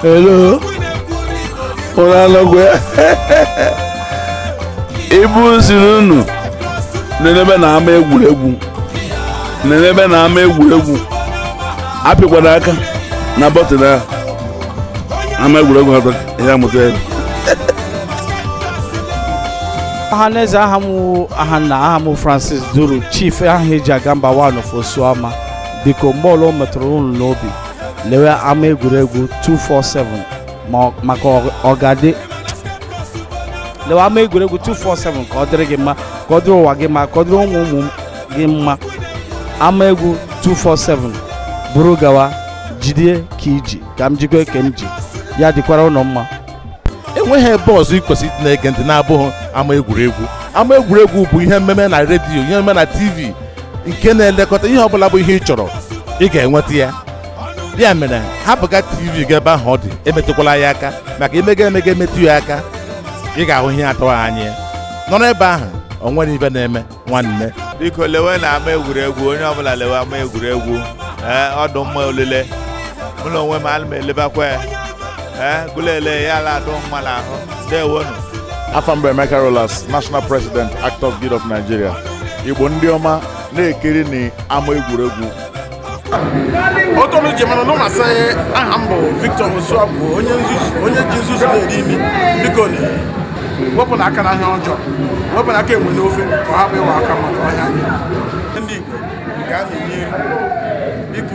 Hello. Unu anọkwa. Igbo m sịrị unu nenebenụ ama egwuregwu nenebenụ ama egwuregwu apịkwana aka na bọtịn ahụ ama egwuregwu atọ ya mụta ya Ahaneze aha m wụ Ahanna aha m wụ Francis Duru chief aha eji aga mba one of Osuama biko mgbe ọla o metụrụ unu n'obi lewe ama egwuregwu 247 ma ọ- maka ọ- ọ ga-adị lewe ama egwuregwu 247 ka ọ dịrị gị mma ka ọ dịrị ụwa gị mma ka ọ dịrị ụmụ ụmụ gị mma ama egwu 247 buru gawa jide ka iji ka m jikwa ke m ji ya dịkwara unu mma enweghị ebe ọzọ ị kwesịrị ịdị na-ege ntị na-abụghị ama egwuregwu ama egwuregwu bụ ihe mmeme na redio ihe mmeme na tv nke na-elekọta ihe ọbụla bụ ihe ị chọrọ ị ga-enweta ya ya mere hapụga tv gị ebe ahụ ọ dị emetụkwala ya aka maka i mega emega emetụ ya aka ị ga-ahụ ihe atụghị anya nọrọ ebe ahụ o nwere ihe na-eme nwanne biko lewenụ ama egwuregwu onye ọbụla lewe ama egwuregwu ee ọ dụ mma olile mụ na onwe m ana m elebakwa ya ee gụ lele ya ọ la-adụ mma n'ahụ ndewonu afa m bụ emeka rollas national president actors guild of nigeria igbo ndị ọma na-ekirinụ ama egwuregwu otu unu ji mara na m sị aha m bụ Victor Osuagwu onye ji nzuzu na-eri imi biko wepụnụ aka na ihe ọjọọ wepụnụ aka enwe n'ofe ka ọ hapụ ịwụ aka mmadụ ọhịa ndị Igbo gaanụ n'ihu biko